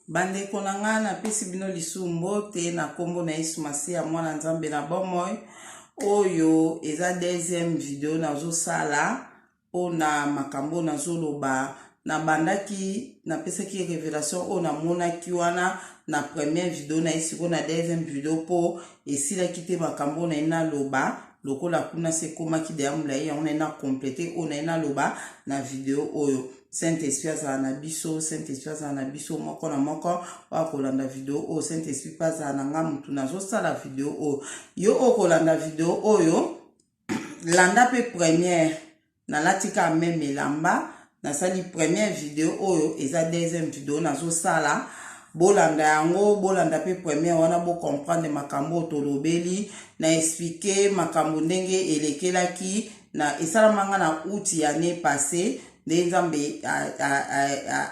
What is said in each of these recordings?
bandeko na ngai napesi bino lisusu mbote na nkombo na yesu masiya mwana nzambe na bomoi oyo eza deuxième video nazosala mpo na makambo oyo nazoloba nabandaki napesaki revelation oyo namonaki wana na première video na ye sikoyo na deuxième video mpo esilaki te makambo oyo na ye naloba lokola kuna se ekomaki deya molai yango naye na complete oyo naye naloba na video oyo saint esprit azala na biso saint esprit azala na biso moko na moko oyo akolanda video oyo saint esprit mpe azala na ngai motu nazosala video oyo yo okolanda video oyo landa mpe première nalati ka meme elamba nasali première video oyo eza deuxième video nazosala bolanda yango bolanda mpe première wana bocomprendre makambo oyo tolobeli na explike makambo ndenge elekelaki na esalama nga na out ya ne passe nde nzambe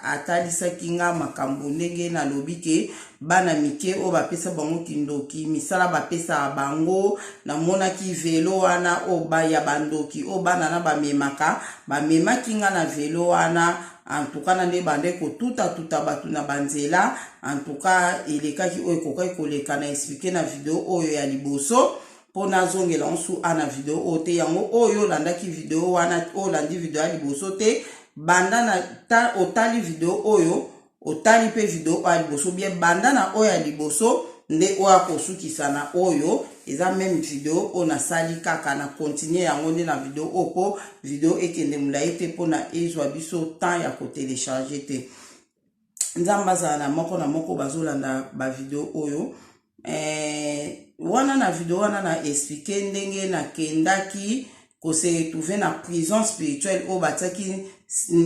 atalisaki nga makambo ndenge nalobi ke bana mike oyo bapesa bango kindoki misala bapesaka bango namonaki velo wana oyo ya bandoki oyo bana na bamemaka bamemaki nga na velo wana antuka na nde bande kotutatuta bato na banzela antuka elekaki oyo ekokaki koleka na esplike na video oyo ya liboso mpo nazongela nsu a na video oyo te yango oyo olandaki video wana olandi video ya liboso te banda na otali video oyo Otali mpe video oyo ya liboso bien, banda na oyo ya liboso nde oyo akosukisa na oyo eza meme video oyo nasali kaka na continue yango nde na video oyo mpo video ekende molai te mpo na ezwa biso temps ya kotelecharge te nzambe azala na moko na moko bazolanda bavideo oyo eh, wana na video wana na explike ndenge nakendaki kose trouve na prison spirituelle oyo batiaki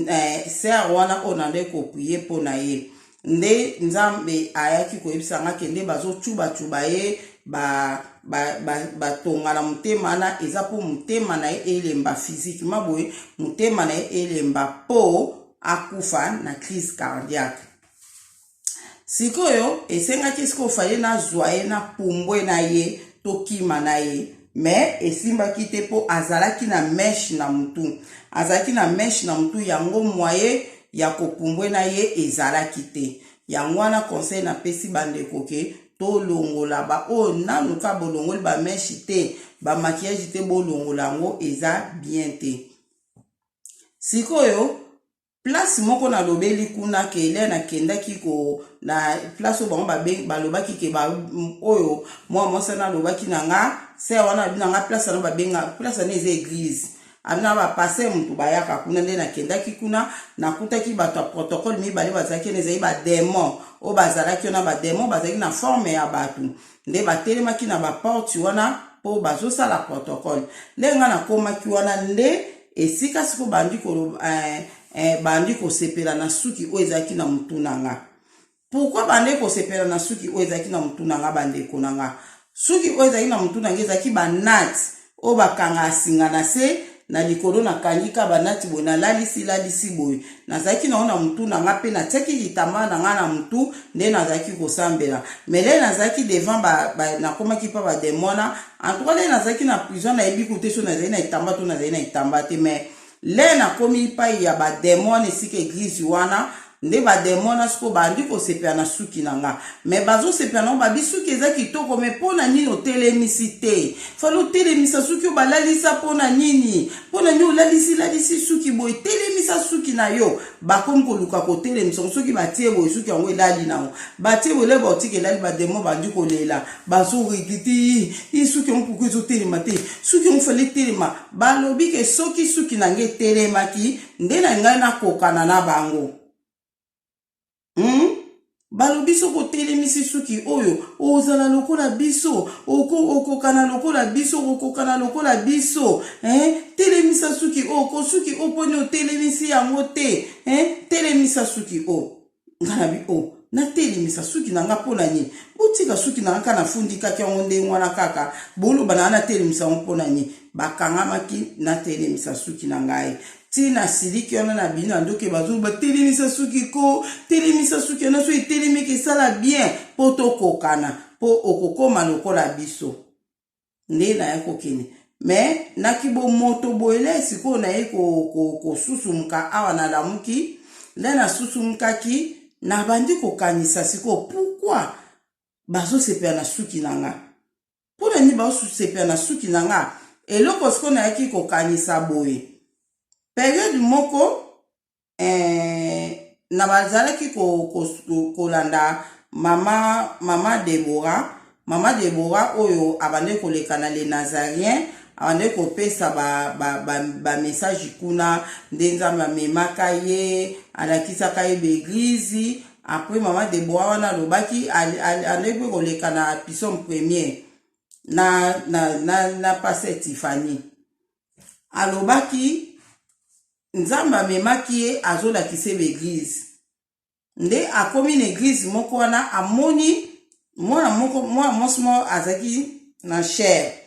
eh, ser wana oyo nandaki koprie mpo na ye nde nzambe ayaki koyebisa nga ke nde bazocubacuba ye batonga ba, ba, ba na motema wana eza mpo motema na ye elemba physiquema boye motema na ye elemba mpo akufa na crise cardiaque sikoyo esengaki sikoyo faye nazwa ye na pumbwe na ye tokima na ye me esimbaki te mpo azalaki na meshe na motu azalaki na meshe na motu yango mwaye ya kopumbwe na ye ezalaki te yango wana conseil napesi bandeko ke tolongola baoyo nanu ka bolongoli bameshe te bamakiage te bolongola yango eza bien te sikoyo place moko nalobeli kuna ke le nakendaki ko na place oyo bango balobaki ke ba, oyo mwa mwasi wana alobaki na nga se wana abi na nga place wana babenga place wana eza eglise abi na bapaster motu bayaka kuna nde nakendaki kuna nakutaki bato ya protocole mibale bazalaki ena ezali bademon oyo bazalaki wana bademon bazalaki na forme ya bato nde batelemaki na baporte wana mpo bazosala protocole nde ngai nakomaki wana nde esika siko bandi koloba eh, eh, bandi kosepela na suki oyo ezalaki na motu na nga pourkui bandi kosepela na suki oyo ezalaki na motu na nga bandeko na nga suki oyo ezalaki na motu na nga ezalaki banati oyo bakanga asinga na se na likolo nakangi ka banati boye nalalisi lalisi boye nazalaki nango na motu na ngai mpe natiaki litambala na ngai na motu nde nazalaki kosambela mele nazalaki devant nakomaki mpa bademona antuka nde nazalaki na prison nayebi kute so nazali na litamba to nazali na litamba te mais Lè na komi epayi ya ba demon wana esika eglise wana nde ba demon wana sikoyo bandi kosepela na suki na nga mais bazo sepela nango babi suki eza kitoko mais pona nini otelemisi te fale otelemisa suki yo balalisa pona nini pona nini olalisi lalisi suki boye telemisa suki na yo bakomi koluka kotelemisa ngo soki batie boye suki yango elali nango batie boye leba otika elali ba demon bandi kolela bazo regretter ii suki yango pourquoi ezo telema te suki yango fale telema Balobi ke soki suki na nga etelemaki nde na ngai nakokana na bango. Hmm? balobi soki otelemisi suki oyo ozala lokola biso okokana lokola biso okokana lokola biso eh? telemisa suki oyo ko suki oyo mponi otelemisi yango te eh? telemisa suki oyo nga na bi o natelemisa suki na nga mpo na nini botika suki na nga kaka nafundikaki yango ndenge wana kaka boloba na nga natelemisa yango mpo na nini bakangamaki natelemisa suki na ngai ti nasiliki wana na bino na ndoki bazoloba telemisa suki ko telemisa suki wana so etelemiki esala bien mpo tokokana mpo okokoma lokola biso nde naya kokende me na kibomoto boye nde sikoyo naye kosusumka ko, ko awa nalamuki nde nasusumkaki nabandi kokanisa sikoyo pourkui bazosepela na suki na nga mpo na nini bazosepela na suki na nga eloko sikoyo nayaki kokanisa boye periode moko eh, na bazalaki kolanda ko, ko mama, mama Deborah mama Deborah oyo abandaki koleka na le Nazarien abandaki kopesa bamessage ba, ba, ba, ba kuna nde nzambe amemaka ye alakisaka ye baeglize apres mama Deborah wana alobaki andaki mpe koleka na pison premier na, na, na, na pasteur Tiffany alobaki nzambe amemaki ye azolakisa ye baeglize nde akomi na eglize moko wana amoni mwana moko mwana mwasi moko azalaki na chere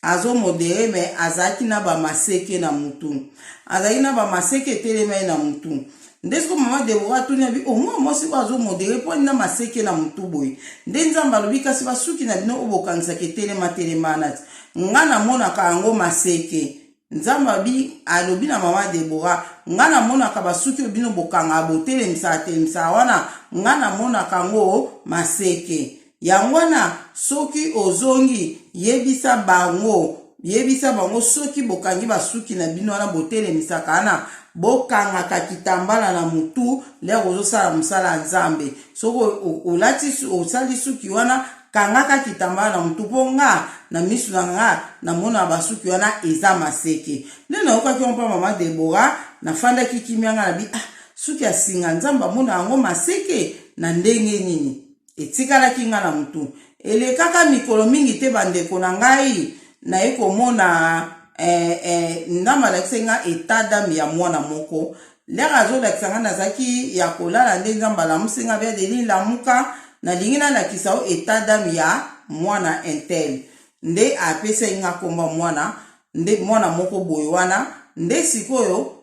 azomodere me azalaki na bamaseke na mutu azalaki na bamaseke etelemai na mutu nde siko mama debora atuni abi omwa mwasi oyo azomodere mpo ani na maseke na motu boye nde nzambe alobi kasi basuki na bino oyo bokanisaka etelema telemanati ngai namonaka yango maseke nzambe abi alobi na mama debora ngai namonaka basuki oyo bino bokangaka botelemisaka telemisaka wana ngai namonaka yango maseke Yango wana, soki ozongi, yebisa bango, yebisa bango, soki bokangi basuki na bino wana, botelemisaka wana, bokangaka kitambala na mutu, lere ozosala mosala ya Nzambe. Soki olati, osali suki wana, kangaka kitambala na mutu, mpo nga, na misu na nga, namonaka basuki wana eza maseke. Nde nayokaki yango mpo ya mama Debora, nafandaki kimia, nga nabi, ah, suki ya singa, Nzambe amonaka yango maseke? Na ndenge nini? etikalaki ngai na motu. Elekaka mikolo mingi te, bandeko na ngai, naye komona eh, eh, ndambo alakisi ngai etat d'ame ya mwana moko lere azolakisa ngai nazalaki ya kolala nde nzambe alamusi ngai bia deni lamuka nalingi nalakisa yo etat d'ame ya mwana intel nde apesaki ngai nkomba mwana nde mwana moko boye wana nde sikoyo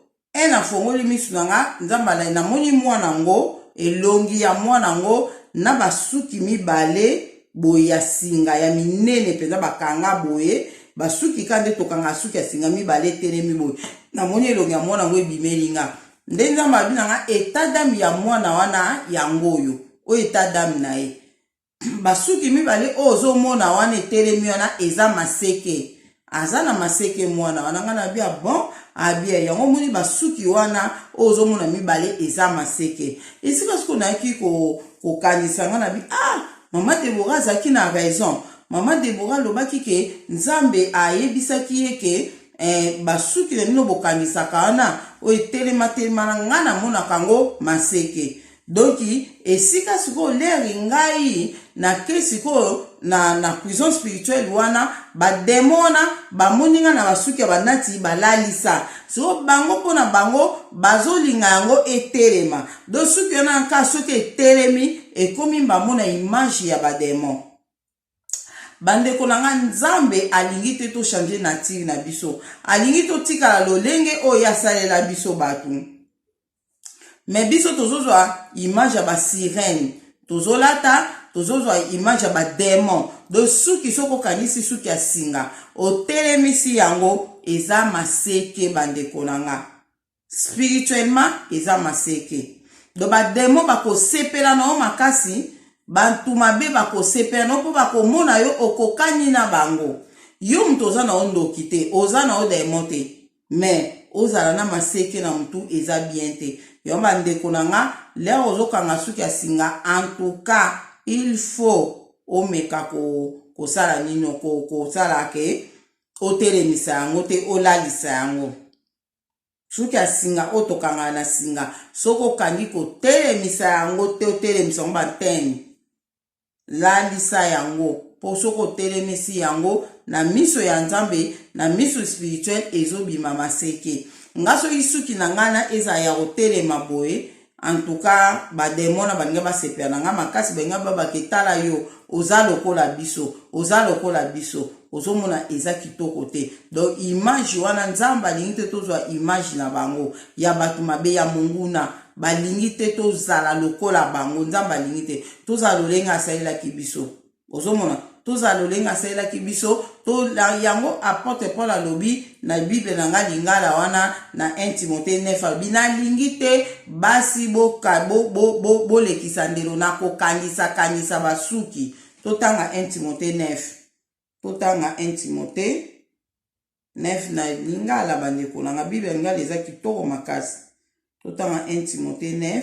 e na fongoli misu na nga nzambe alai na moni mwana yango elongi ya mwana yango na basuki mibale boye ya singa ya minene mpenza bakanga boye basuki ka nde tokanga suki ya singa mibale etelemi boye namoni elongi ya mwana yango ebimeli nga nde nzambe abi na nga etadame ya mwana wana yango oyo oyo etadame na ye basuki mibale oyo ozomona wana etelemi wana eza maseke aza na maseke mwana wana ngai nabi ya bon abia yango omoni basuki wana oyo ozomona mibale eza maseke esika siko nayaki kokanisa ngai nabi ah mama debora azalaki na raison mama debora alobaki ke nzambe ayebisaki ye ke eh, basuki na bino bokangisaka wana oyo etelema telema na ngai namonaka yango maseke Donc esika sikoyo leri ngai na ke sikoyo na na prison spirituelle wana ba demon wana ba moni nga na basuki ya banati ba lalisa sikoyo bango pona bango bazolinga yango etelema donc suki wana nka soki etelemi ekomi mbamona image ya ba demon Bandeko na nga, Nzambe alingi te to changer nature na biso. Alingi totikala lolenge oyo ye asalela biso bato. Mais biso tozozwa image ya ba sirène. Tozolata, tozozwa image ya ba demon. Donc suki soki okanisi suki ya singa, otelemisi yango, eza maseke bandeko na nga. spirituellement eza maseke donc bademo bakosepela na yo makasi bantu mabe bakosepela na yo mpo bakomona yo okokani na bango yo moto oza na yo ndoki te oza na yo demo te mais ozala na maseke na motu eza bien te yango bandeko na nga lere ozokanga suki ya singa antuka il faut omeka ko, kosala nino kosala ko ke otelemisa yango te olalisa yango soki asinga oyo tokangana na singa soki okangi kotelemisa yango te otelemisa yango bantene lalisa yango mpo soki otelemisi yango na miso ya nzambe na miso spirituel ezobima maseke nga soki suki na ngai na ezala ya kotelema boye En tout cas, ba demon na balinga ba sepela na nga makasi balinga ba bake tala yo oza lokola biso oza lokola biso ozomona eza kitoko te donc image wana nzambe alingi te tozwa image na bango ya bato mabe ya monguna balingi te tozala lokola bango nzambe alingi te tozala lolenge asalelaki biso ozomona tozala lolenge asalelaki biso to yango apotre paul alobi na bible na ngai lingala wana na 1 timote 9 alobi nalingi te basi bolekisa bo, bo, bo ndelo na kokangisakangisa basuki totanga 1 timote 9 totanga 1 timote 9 na lingala bandeko na ngai bible ya lingala eza kitoko makasi totanga 1 timote 9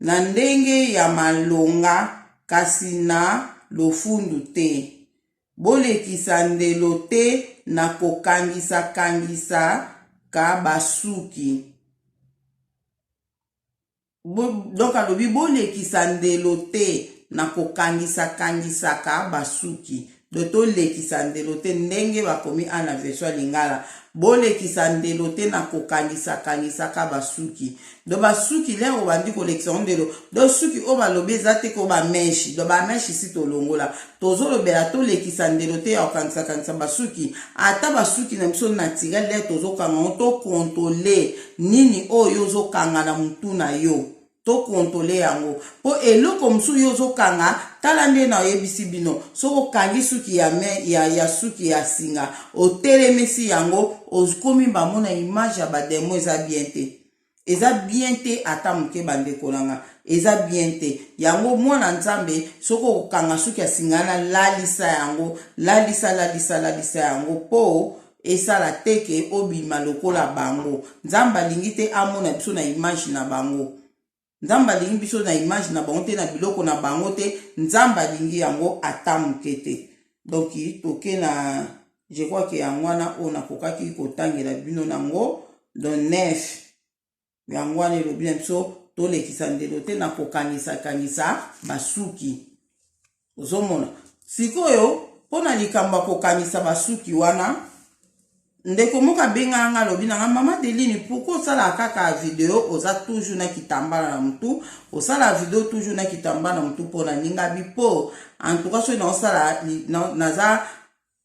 na ndenge ya malonga kasi na lofundu te. Bolekisa ndelo te na kokangisakangisaka basuki. Donc alobi bolekisa ndelo te na kokangisakangisaka basuki. do tolekisa ndelo te ndenge bakomi a na version ya lingala bolekisa ndelo te na kokangisa kangisaka basuki do basuki lere obandi kolekisa yango ndelo do suki oyo balobi eza te ko bameshi do bameshi si tolongola tozolobela tolekisa ndelo te ya kokangisa kangisa basuki ata basuki na biso naturel lere tozokanga yango tokontole nini oyo ozokanga na motu na yo to controle yango po eloko mosusu yo ozokanga tala nde na oyebisi bino soki okangi suki ya, me, ya, ya suki ya singa otelemisi yango okomi bango na image ya bademo eza bien te eza bien te ata moke bandeko na nga eza bien te yango mwana nzambe soki okokanga suki ya singa na lalisa yango lalisa lalisa lalisa yango po Esala te que obima lokola bango. Nzambe alingi te amona biso na image na bango. Nzambe alingi biso na image na bango te, na biloko na bango te. Nzambe alingi yango ata moke te. Donc toke na je crois que yango wana oyo nakokaki kotangela bino nango. Donc 9. yango wana elobi na biso tolekisa ndelo te na kokangisakangisa basuki ozomona sikoyo mpo na likambo ya kokanisa basuki wana ndeko moko abengaka ngai alobi na ngai mama deline pourkui osalaka kaka video oza toujours na kitambala na motu osala video toujours na kitambala na motu mpo na ningabi mpo antuka soki naosala naza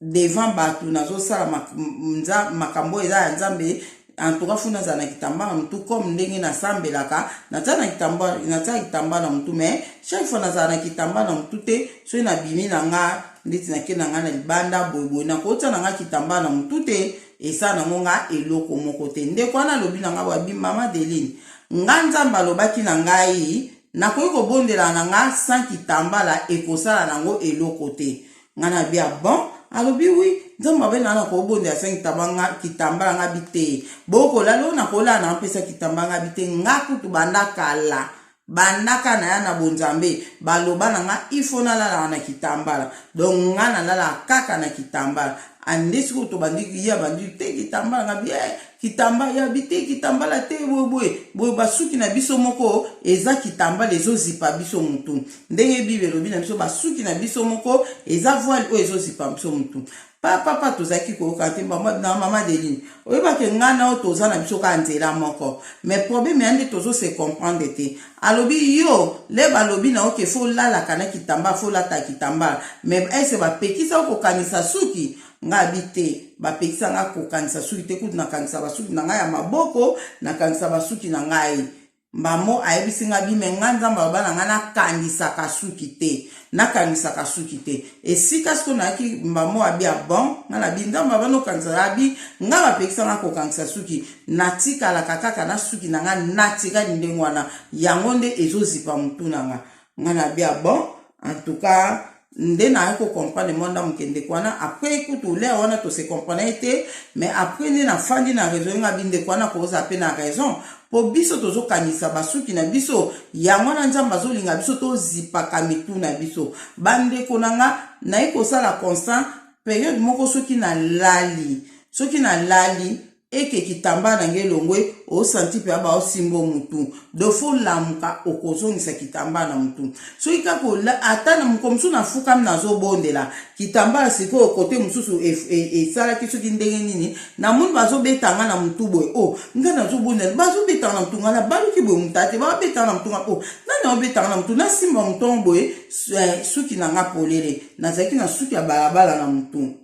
devant batu nazo sala mak, mza, makambo eza ya Nzambe en tout cas funa azala na kitamba na mutu comme ndenge nasambelaka naza na kitamba naza kitamba na mutu mais chaque fois nazala na kitamba na mutu te soki nabimi na nga ndeti nake na nga na libanda boyeboye nakotia na nga kitamba na mutu te esa nango nga eloko moko te ndeko wana alobi na nga babi mama deline nga nzambe alobaki na ngai nakoki kobondela na nga sans kitambala ekosala nango eloko te nga na bi abon ah alobi wi nzambe abe na na kobonda ya sengi tabanga kitambala nga bi te bokola lo na kola na mpesa kitambala nga bi te nga kutu banda kala bandaka na ya na bonzambe baloba na nga ifo nalalaka na kitambala donc nga nalalaka kaka na kitambala ande sikoyo tobandi ye abandi te kitambala nga bi eh, kitambala ya bi te kitambala te boyeboye boye basuki na biso moko eza kitambala ezozipa biso motu ndenge bible elobi na biso basuki na biso moko eza voile oyo ezozipa biso motu papapa tozalaki koyoka te na mama deline oyebaki ngai nao toza na biso kaka nzela moko mais probleme ya nde tozo se comprendre te alobi yo le balobi na oke fo lalaka na kitambala fo lata kitambala mais ese bapekisa yo kokanisa suki ngai abi te bapekisa ngai kokanisa suki te kutu nakanisa basuki na ngai ya maboko nakanisa basuki na ngai mbamo ayebisi nga bime nga nzambe aloba na nga nakangisaka suki te nakangisaka suki te esika sikoyo nayaki mbamo abi ya bon nga na bi nzambe aloba nokangisa abi nga bapekisa nga kokangisa suki natikalaka kaka na suki na nga natikali ndenge wana yango nde ezozipa motu na nga nga na bi ya bon en tout cas nde naye kocomprendre mwa ndambo ke ndeko wana après kutu lea wana tose comprendre ye te mais après nde nafandi na raison nga bi ndeko wana akozala mpe na raison mpo biso tozokangisa basuki na biso yango wana nzambe azolinga biso tozipaka mitu na biso bandeko na nga naye kosala constant periode moko soki nalali soki nalali eke kitambaa na ngai elongwe osanti mpe aba osimba mutu dofo olamuka okozongisa kitambaa na mutu soki kaka ata na mokolo mosusu nafukami nazobondela kitambaa sikoyo kote mosusu e, e, esalaki soki ndenge nini namoni bazobeta nga na mutu boye o oh, nga nazobondela bazobetanga na mutu nga nabaluki boye motu ate babetanga na mutu nga o oh, nani aobetanga na mutu nasimba motongo boye eh, suki na nga polele nazalaki na suki ya balabala na mutu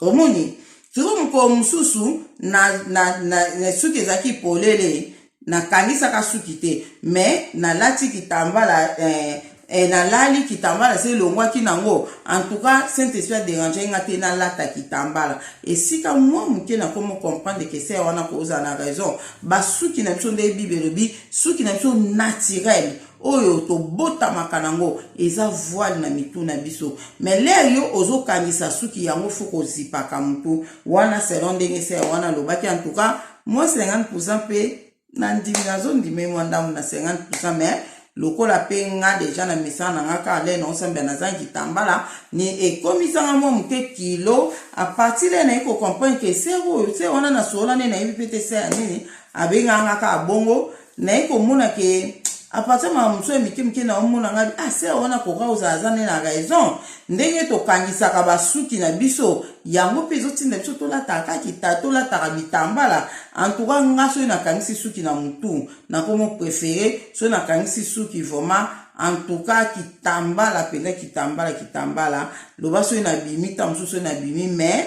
omoni sikoyo mokolo mosusu na, na, na, na suki ezalaki polele nakangisaka suki te me nalati kitambala eh, eh, nalali kitambala se elongwaki nango antuka saint esprit aderange nga te nalata kitambala esika mwa moke nakomi comprendre ke se wana kozala na raison basuki na biso nde bible elobi suki na biso naturele oyo tobotamaka nango eza voile na mitu na biso mais lere yo ozokangisa suki yango fo kozipaka motu wana selon ndenge se wana alobaki en tout cas moi 50 pourcent mpe na ndimi nazondime mwa ndambo na 50 pourcent mais lokola mpe nga deja na misala na nga kaka lene osambela nazangi kitambala ni ekomisanga mwa moke kilo apartir lene naye kocomprendre ke se oyo se wana nasololani nayebi mpe te se ya nini abenganga kaka bongo naye komona ke apartir makambo mosusu ya mike mike naomona ngai ah ser wana koka ozala aza nde na raison ndenge tokangisaka basuki na biso yango mpe ezotinda biso tolataka kaka kita tolataka bitambala antuka nga soki nakangisi suki na motu nakomo prefere soki nakangisi suki vraiment antuka kitambala mpenza kitambala kitambala loba soki nabimi ntango mosusu soki nabimi mais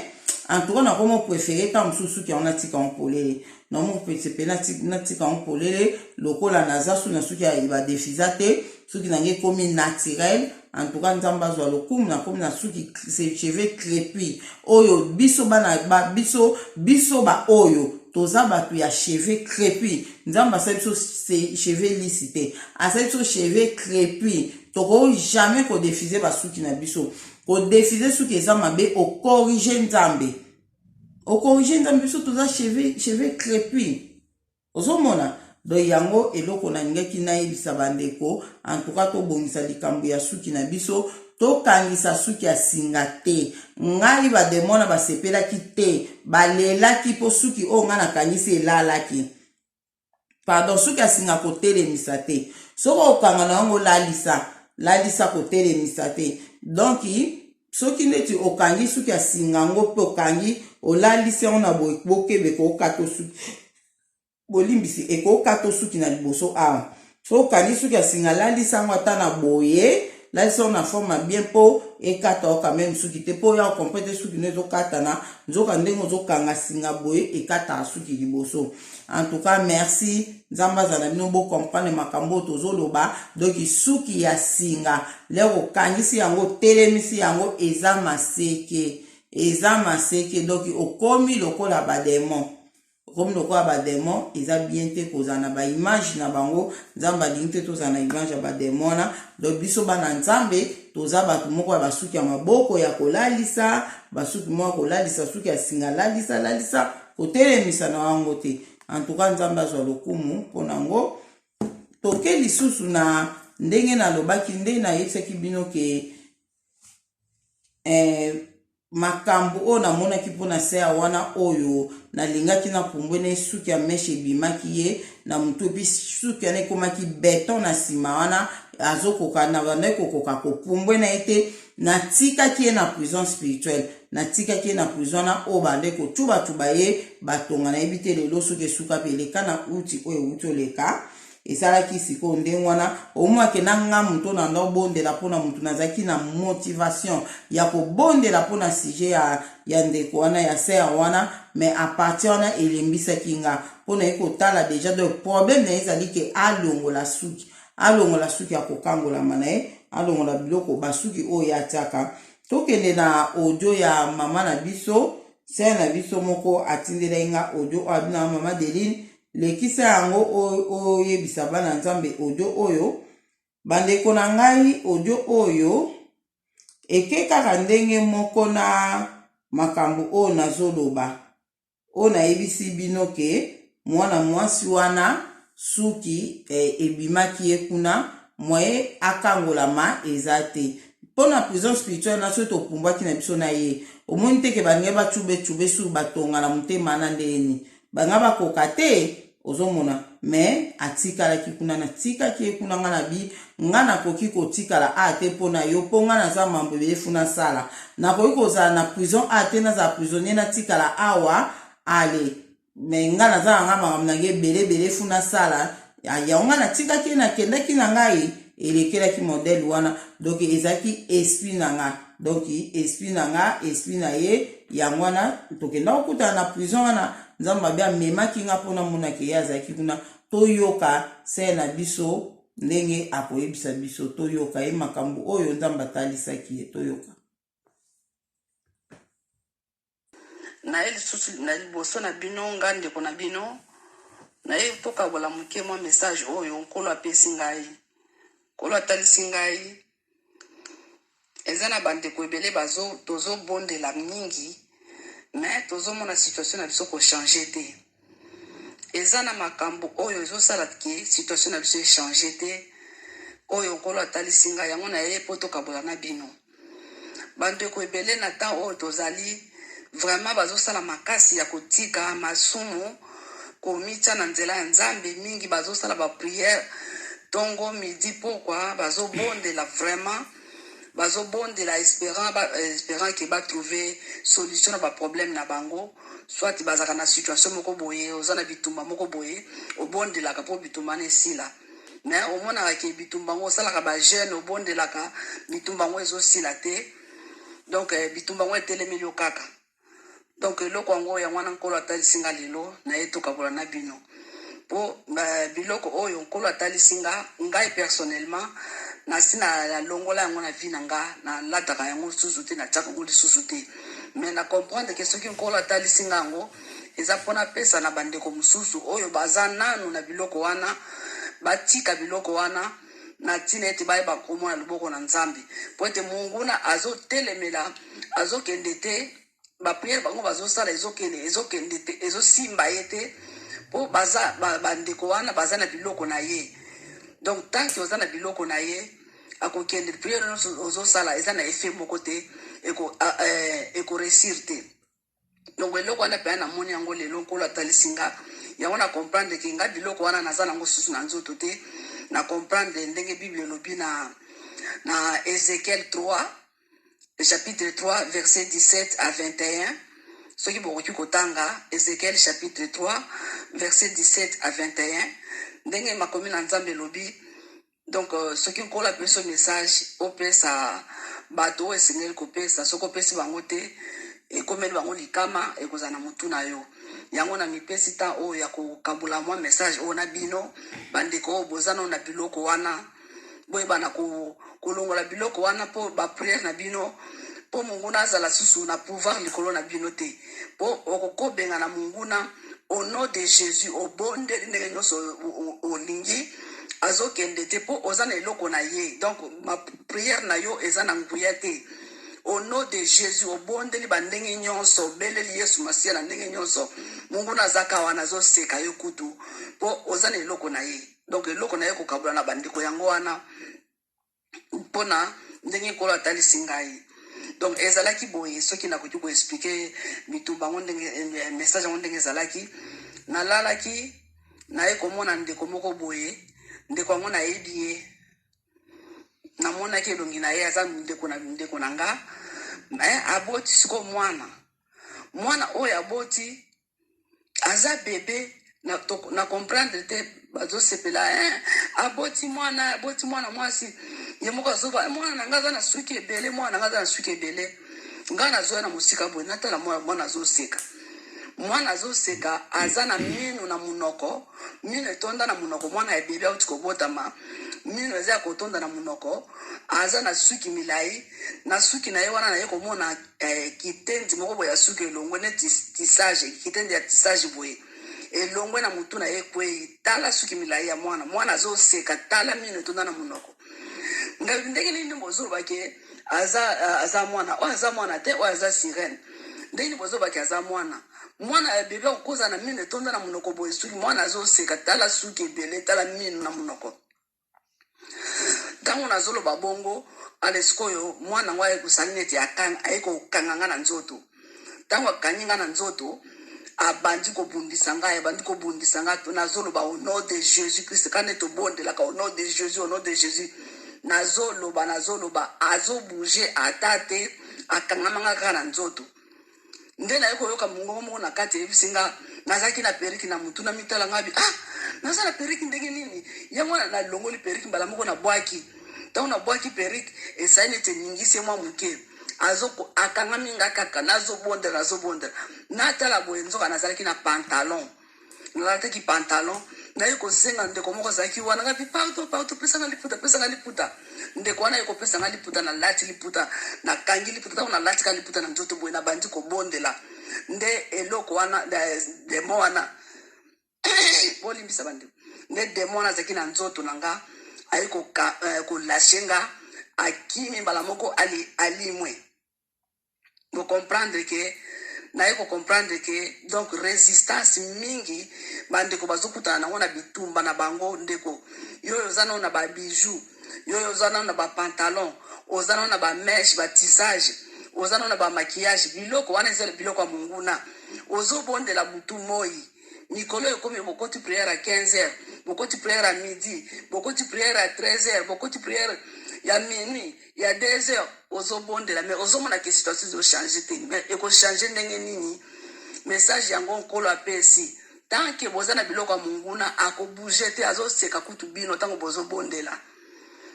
antuka nakomo prefere ntango mosusu suki yango natika yango polele na mopese mpe natika yango polele lokola naza soki na suki ya badefiza te soki na ngai ekomi naturel en tout cas nzambe azwa lokumu nakomi na suki cheveux crepi oyo biso bana ba, biso biso baoyo toza bato ya cheveux crepi nzambe asali biso cheveux lisi te asali biso cheveux crepi tokoki jamais kodefize basuki na biso kodefize suki eza mabe okorige nzambe au corrige nzambe biso toza cheveux cheveux crepus ozomona donc yango eloko nalingaki nayebisa bandeko antuka tobongisa likambo ya suki na biso tokangisa suki ya singa te ngai bademona basepelaki te balelaki mpo suki oyo ngai nakangisi elalaki pardon suki ya singa kotelemisa te soki okanga na yango lalisa lalisa kotelemisa te donk soki neti okangi suki ya singa yango mpe okangi olalisi yango na boye bokebe kookata osuki bolimbisi ekokata osuki na liboso awa Soki okangi suki ya singa lalisa yango ata na boye, lalisa yango na forme ya bien mpo ekata yo quand même suki te mpo oya okompre te suki no ezokatana nzoka ndenge ozokanga singa boye ekataka suki liboso. En tout cas merci nzambe azala na bino bocomprendre makambo oyo tozoloba donc suki ya singa lere okangisi yango otelemisi yango eza maseke eza maseke donc okomi lokola bademon okomi lokola bademon eza bien te kozala na baimage na bango nzambe alingi te tozala na image ya bademon wana donc biso bana nzambe toza bato moko ya basuki ya maboko ya kolalisa basuki moko ya kolalisa suki ya singa lalisa lalisa kotelemisa na yango te antuka nzambe azwa lokumu mpo na yango toke lisusu na ndenge nalobaki nde nayebisaki bino ke eh, Makambu oyo namonaki mpo na sœur wana oyo nalingaki na pumbue na ye suki ya meshe ebimaki ye na mutu epi suki wana ekomaki beton na sima wana azokoka na bandaki kokoka kopumbue na ye te natikaki ye na prison spirituelle natikaki ye na prison wana oyo bande kotuba tuba ye batonga nayebi te lelo soki esuka mpe eleka na uti oyo ewuti oleka esalaki sikoyo ndenge wana omwake na nga moto na ndo bondela mpo na motu nazalaki na motivation ya kobondela mpo na sujet ya, ya ndeko wana ya ser wana mais apartir wana elembisaki nga mpo naye kotala deja donc problème na ye ezali ke alongola suki alongola suki ya kokangolama na ye alongola biloko basuki oyo atiaka tokende na audio ya mama na biso ser na biso moko atindelaki nga audio oyo abinaka mama deline Lekisa yango oyebisa bana Nzambe audio oyo. Bandeko na ngai, audio oyo eke kaka ndenge moko na makambo oyo nazoloba, oyo nayebisi bino ke mwana mwasi wana suki eh, ebimaki ye kuna moye akangolama eza te mpo na prison spirituelle na soki topumbwaki na biso na ye omoni te ke balingai bacube cube sur batonga na motema na ndenge nini banga bakoka te ozomona me atikalaki kuna natikaki ye kuna nga na bi nga nakoki kotikala a te mpo na yo mpo nga naza mambo ebele funa sala nakoki kozala na prison a te nazala prisonnier natikala awa ale me nga naza na nga makambo na nga ebele ebele funa sala Ya, yango ngai natikaki ye, nakendaki na ngai, elekelaki modele wana, donc ezalaki esprit na ngai donc esprit na nga esprit na ye yango wana tokenda kokutana na prison wana nzambe mabe amemaki nga mpo namonake ye azalaki kuna toyoka se na biso ndenge akoyebisa biso toyoka ye makambo oyo nzambe atalisaki ye toyoka Naye lisusu na liboso na bino, ngai ndeko na bino, naye tokabola moke mwa message oyo Nkolo apesi ngai. Nkolo atalisi ngai eza na ba ndeko ebele bazo, tozo bondela mingi mais tozo mona situation na biso ko changer te. eza na makambu oyo ezo sala ke situation na biso e change te oyo nkolo atalisi nga yango na ye po to kabola na bino ba ndeko ebele na temps oyo tozali vraiment bazo sala makasi ya kotika masumu komitia na nzela ya nzambe mingi bazo sala ba prière tongo midi pokwa bazo bondela vraiment bazo bondela esperant ba esperant que ba trouve solution na ba problème na bango soit bazalaka na situation moko boye oza na bitumba moko boye obondelaka po bitumba wana esila mais omonaka ke bitumba yango osalaka ba jeune obondelaka bitumba yango ezo sila te donc bitumba yango etelemeli yo kaka donc eloko yango yango wana nkolo atalisi nga lelo naye tokabola na bino po euh, biloko oyo nkolo atalisi nga ngai personnellement nasi nalongola yango na vie na nga nalataka yango lisusu te natiaka yango lisusu te mais na comprendre ke soki nkolo atalisi nga yango eza mpona apesa na bandeko mosusu oyo baza nanu na biloko wana batika biloko wana na ntina ete bayeba nkombo na loboko na nzambe mpo ete monguna azotelemela azokende te bapriere bango bazosala ezokende ezokende te ezosimba ye te mpo baza bandeko ba wana baza na biloko na ye donc tanke oza na biloko na ye akokende priere nyonso ozosala eza na efe moko te ekoresir eh, te Donc eloko wana pena na moni yango lelo nkolo atalisi nga yango na comprendre ke nga biloko wana naza nango susu na nzoto te na comprendre ndenge bible elobi na na Ezekiel 3 chapitre 3 verset 17 à 21 soki bokoki kotanga Ezekiel chapitre 3 verset 17 à 21 ndenge makomi na Nzambe elobi Donc euh, soki nkolo apesi yo message opesa bato oyo esengeli kopesa soki opesi bango te ekomeli bango likama ekozala na motu na yo yango na mipesi ntango oyo ya kokabola mwa message oyo na bino bandeko oyo boza nao na biloko wana boyebana kolongola biloko wana mpo bapriere na bino mpo monguna azala susu na pouvoir likolo na bino te mpo okokobenga na monguna au nom de Jesus obondeli ndenge nyonso olingi azokende te mpo oza na eloko na ye donc ma prière na yo eza na nguya te au nom de Jesus obondeli bandenge nyonso obeleli Yesu Masiya na ndenge nyonso monguna azaka wana azoseka yo kutu mpo oza na eloko na ye donc eloko na ye kokabula na bandeko yango wana mpona ndenge nkolo atalisi ngai donc ezalaki boye soki nakoki koexplike bitumba yango ndenge eh, message yango ndenge ezalaki nalalaki naye komona ndeko moko boye ndeko yango nayebi ye namonaki elongi na ye aza ndeko na ndeko na nga me aboti sikoyo mwana mwana oyo aboti aza bebe na, to, na comprendre te bazosepela eh, aboti mwana aboti mwana mwasi ye moko azoba eh, mwana na ngai aza na suki ebele mwana na ngai aza na suki ebele ngai nazoya na mosika boye natala mwana mwana azoseka mwana azoseka aza na mino na monoko mino etonda na monoko mwana ya bebe auti kobotama mino eza ya kotonda na monoko aza na suki milai na suki na ye wana na ye komona eh, kitendi moko boye ya suki elongwe neti tisage kitendi ya tisage boye elongwe na motu na ye ekwei tala suki milai ya mwana mwana azoseka tala mino etonda na monoko ngai ndenge nini bozoloba ke aza aza mwana oyo aza mwana te oyo aza sirene ndenge nini bozoloba ke aza mwana mwana ya bebe akokoza na mino etonda na monoko boye suki mwana azoseka tala suki ebele tala mino na monoko Tango nazo loba bongo ale sikoyo mwana yango aye kosali neti akanga aye kokanga nga na nzoto tango akangi nga na nzoto abandi kobundisa ngai abandi kobundisa ngai to nazoloba au nom de jésus christ kaka nde tobondelaka au nom de jésus au nom de jésus nazoloba nazoloba azobouge ata te akangama nga kaka na nzoto nde naye koyoka mongongo moko na kati eyebisi nga nazalaki na periki na motu na mitala ngabi ah naza na periki ndenge nini yango wana nalongoli periki mbala moko na bwaki ntango na bwaki periki esali neti eningisi ye mwa moke akangami nga kaka nazobondela nazobondela natala boye nzoka nazalaki na pantalon nalataki pantalon naye kosenga ndeko moko azalaki wana ngabi pardo pardo pesa nga liputa pesa nga liputa ndeko wana ye kopesa nga liputa nalati liputa nakangi liputa ntango nalati ka liputa na nzoto boye nabandi kobondela nde eloko wana demo wana bolimbisa bandeko nde demo wana azalaki na nzoto na nga aye kolashe eh, nga akimi mbala moko alimwe ali bo comprendre que naye ko comprendre que donc resistance mingi bandeko bazokutana nango na bitumba na bango ndeko yoyo oza nao na ba bijoux yoyo oza nao na ba pantalon oza nao na ba meshe ba tisage oza nao na ba maquillage biloko wana eza biloko ya monguna ozobondela butu moi mikolo ekomi bokoti priere ya 15 heures bokoti priere ya midi bokoti priere ya 13 heures bokoti priere ya minuit ya deux heures ozobondela mais ozomona ke situation ezo change te mais ekochange ndenge nini message yango nkolo apesi tant ke boza na biloko ya monguna akobouge te azoseka kutu bino ntango bozobondela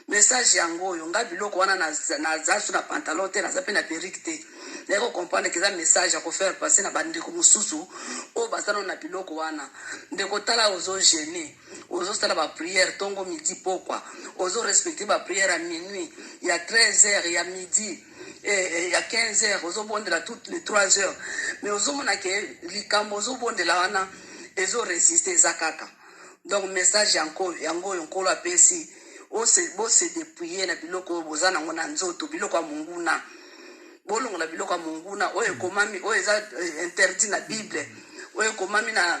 message yango oyo nga biloko wana naza su na pantalon te naza mpe na perike te naye kocomprendre ke eza message ya kofaire passe na bandeko mosusu oyo baza nano na biloko wana ndeko tala ozogene ozo sala ba prière tongo midi pokwa ozo respecte ba prière ya minuit ya 13 heures ya midi eh, eh, ya 15 heures ozo bondela toutes les 3 heures mais ozo mona ke likambo ozo bondela wana ezo resiste eza kaka donc message yango yango oyo nkolo apesi bose depouille na biloko oyo boza nango na nzoto biloko ya monguna bolongola biloko ya monguna oyo ekomami oyo eza eh, interdit na bible oyo ekomami na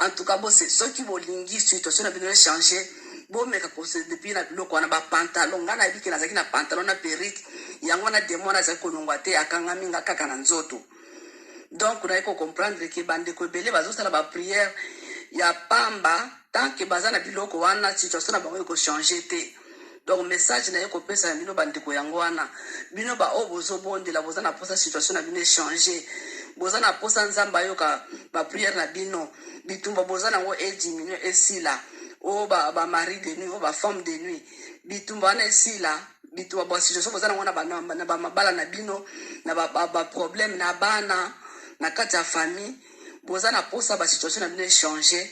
En tout cas, bose, soki bolingi situation na bino echange, bomeka kose depuis na biloko wana ba pantalon. Nga nayebi ke nazalaki na pantalon na perruque, yango wana demon wana azali kolongwa te, akangami nga kaka na nzoto. Donc naye ko comprendre ke bandeko ebele bazosala ba prière ya pamba tant que baza na biloko wana situation na bango ekochange te. Donc message naye kopesa na bino bandeko yango wana bino ba oyo bozobondela boza na posa situation na bino echange boza na posa nzambe ayoka ba priere na bino bitumba boza nango ediminue esila o oh, ba, ba mari de nuit o oh, ba femme de nuit bitumba wana esila bitumba ba situation boza nango na bamabala na bino na baproblème na bana na kati ya famille Boza na posa ba situation na bino e changer?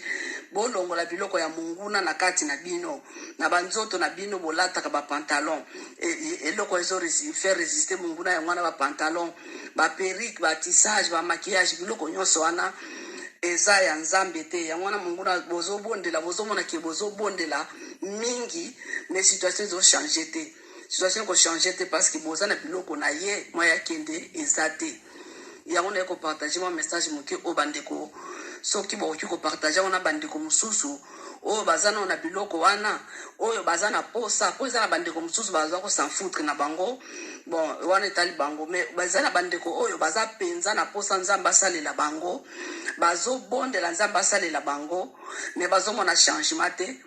Bolongola biloko ya monguna na kati na bino. Na ba nzoto na bino bolataka ba pantalons eloko ezo faire resister monguna yango wana ba pantalons, ba perruques, ba tissages, ba maquillages biloko nionso wana eza ya nzambe te yango wana monguna bozobondela bozomona ke bozobondela mingi mais situation ezochange te situation ko changer te parce que boza na biloko na ye mwa ya kende eza te yango naye ko partager mwa message moke oyo bandeko soki bokoki ko partager yango na bandeko mosusu oyo baza nao na biloko wana oyo baza na posa mpo eza na bandeko mosusu baza kosanfoutre na bango bon wana etali bango me baza na bandeko oyo baza mpenza na posa nzambe asalela bango bazobondela nzambe asalela bango me bazomona changement te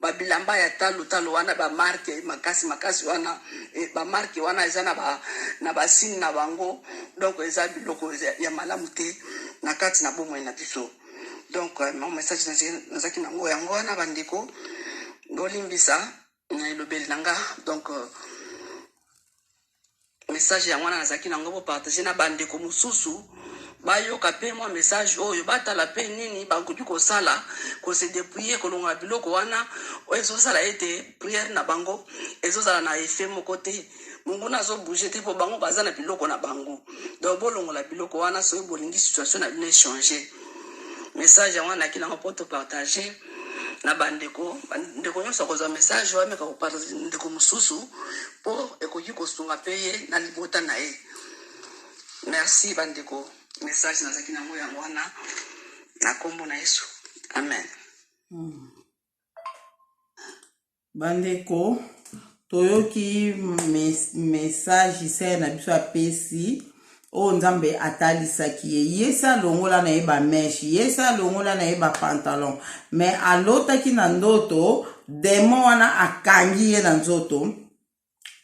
ba bilamba ya talo talo wana ba marque makasi makasi wana e, ba marque wana eza na ba na ba signe na bango donc eza biloko ya malamu te na kati na bomoi na biso donc euh, mon message nazaki nango yango wana bandeko bolimbisa na elobeli na nga donc euh, Message yango wana nazalaki na yango bo partager na bandeko mosusu bayoka pe mwa message oyo batala pe nini bakoki kosala ko se depouiller kolongola biloko wana oyo ezosala ete prière na bango ezozala na effet moko te monguna azo bouger te mpo bango baza na biloko na bango donc bolongola biloko wana soki bolingi situation na bino echanger message yango wana naki nango mpo topartage na bandeko ndeko nyonso akozwa message oyo ameka kopartage ndeko mosusu mpo ekoki kosunga mpe ye na libota na ye merci bandeko message nazalaki na yango yango wana na nkombo na yesu amen mm. Bandeko, toyoki mesaje sere na biso apesi oyo nzambe atalisaki ye ye se alongola na ye bameshe ye se alongola na ye bapantalon me alotaki na ndoto demon wana akangi ye na nzoto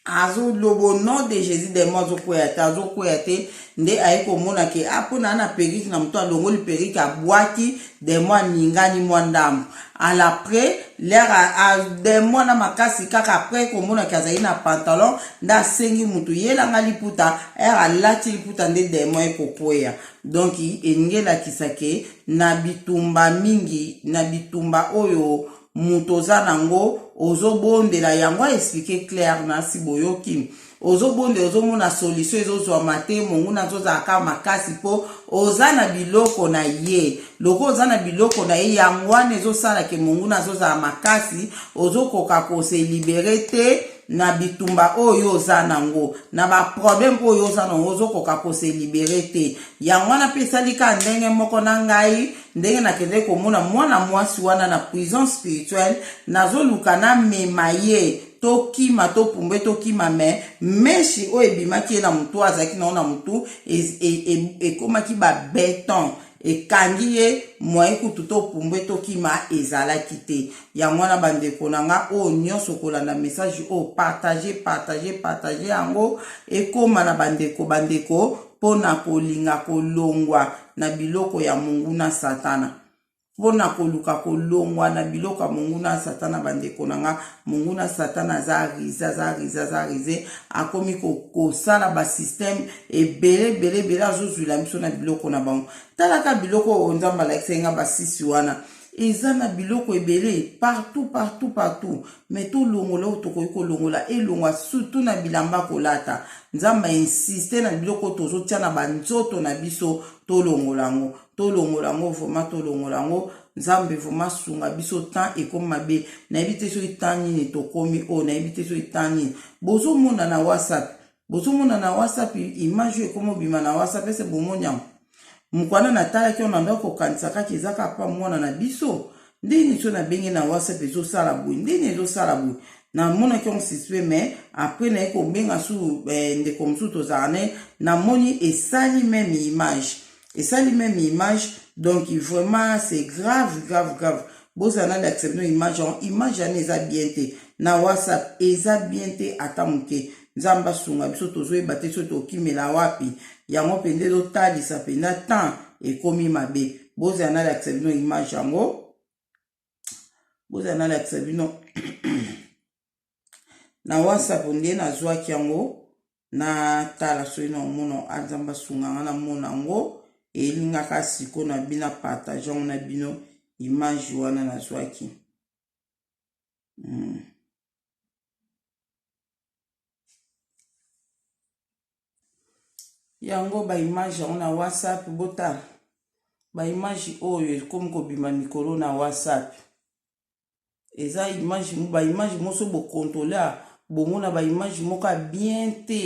azolobo nom de jésus demo azokwea te azokwea te nde aye komona ke a ah, mpo naa na perike na moto alongoli perike abwaki demo aningani mwa ndambo ala après lera demo na makasi kaka après komona ke azali na pantalon nde asengi moto yelanga liputa ere alati liputa nde demo ekokwea donk elingi elakisa ke na bitumba mingi na bitumba oyo moto oza nango ozobondela yango aexplike claire nasi boyoki ozobondela ozomona solution ezozwama te monguna azozalaka makasi mpo oza na biloko na ye lokola oza na biloko na ye yango wana ezosala ke monguna azozala makasi ozokoka kose libere te na bitumba oyo oza nango na baproblème oyo oza nango ozokoka kose libere te yango wana mpe esali ka ndenge moko na ngai ndenge nakendeki komona mwana mwasi wana na prison spirituelle nazoluka namema ye tokima topumbe tokima me meshi oyo ebimaki ye na motu oyo azalaki na yo na motu ekomaki e, e, e babeton ekangi ye moye kutu topumbwe tokima ezalaki te yango wana bandeko na nga oyo nyonso kolanda message oyo partage partage partage yango ekóma na bandeko bandeko mpo na kolinga kolongwa na biloko ya monguna Satana. Mpo na koluka kolongwa na biloko ya monguna Satana, bandeko na nga, monguna Satana aza rize, aza rize, aza rize, akomi kosala basysteme ebele ebele ebele, azozwila biso na biloko na bango. Talaka biloko oyo Nzambe alakisaki nga basisi wana, Eza na biloko ebele partout partout partout mais to longola oyo tokoki ko longola elongwa surtout na bilamba ko lata nzambe a insiste na biloko tozo tia na ba nzoto na biso to longola ngo to longola ngo vraiment to longola ngo nzambe vraiment sunga biso temps ekomi mabe na yebi te soki temps nini tokomi oyo na yebi te soki temps nini bozo mona na whatsapp Bozo mona na WhatsApp image oyo ekoma obima na WhatsApp ese bomoni yango? Mukwana na talaki yango na ndako kokanisa kaka eza kaka pa mwana na biso ndeni so na bengi na WhatsApp ezo sala boye ndeni ezo sala boye na monaki yango suspect mais après na ye kobenga su eh, ndeko mosusu tozala ne na moni esali meme image esali meme image donc vraiment c'est grave grave grave bozala nani accepte image yango image yango eza bien te na whatsapp eza bien te ata moke nzambe asunga biso tozoyeba te soki tokimela wapi yango mpenza ezotalisa mpenza temps ekomi mabe bozala nalakisa bino image yango bozala nalakisa bino na whatsapp nde nazwaki yango natala soki na omona anzambe asunga nga namona yango elingaka siko na bina partage yango na bino image wana nazwaki mm. yango ba image yango na whatsapp botala ba image oyo ekomi kobima mikolo na whatsapp eza image ba image moso bokontrole bongo na ba image moko ya bien te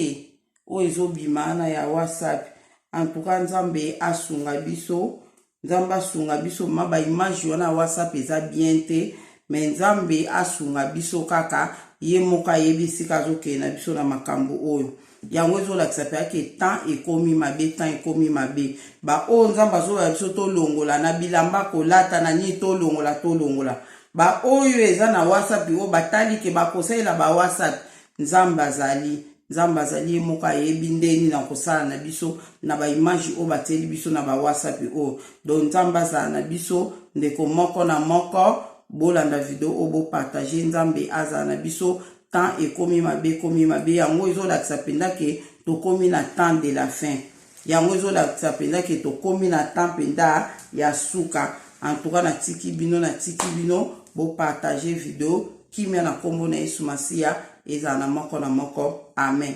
oyo ezobima na ya whatsapp en tout cas nzambe asunga biso nzambe asunga biso ma ba image wana ya whatsapp eza bien te me nzambe asunga biso kaka ye moko ayebi esika azokende na biso na makambo oyo yango ezolakisa mpe ake temps ekomi mabe temps ekomi mabe baoyo nzambe azolola biso tolongola na bilamba kolata na nini tolongola tolongola baoyo eza na whatsapp oyo batali ke bakosalela ba whatsapp Nzambe azali. Nzambe azali ye moko ayebi nde nini akosala na biso na ba image oyo batieli biso na ba wasapi oyo. Donc Nzambe azala na biso ndeko moko na moko bolanda video oyo bo partage Nzambe azala na biso temps ekomi mabe ekomi mabe yango ezolakisa penza ke tokomi na temps de la fin. Yango ezo lakisa penza ke tokomi na temps penza ya suka. En tout cas na tiki bino na tiki bino bo partager video kimia na kombo na Yesu Masiya ezala na moko na moko. Amen.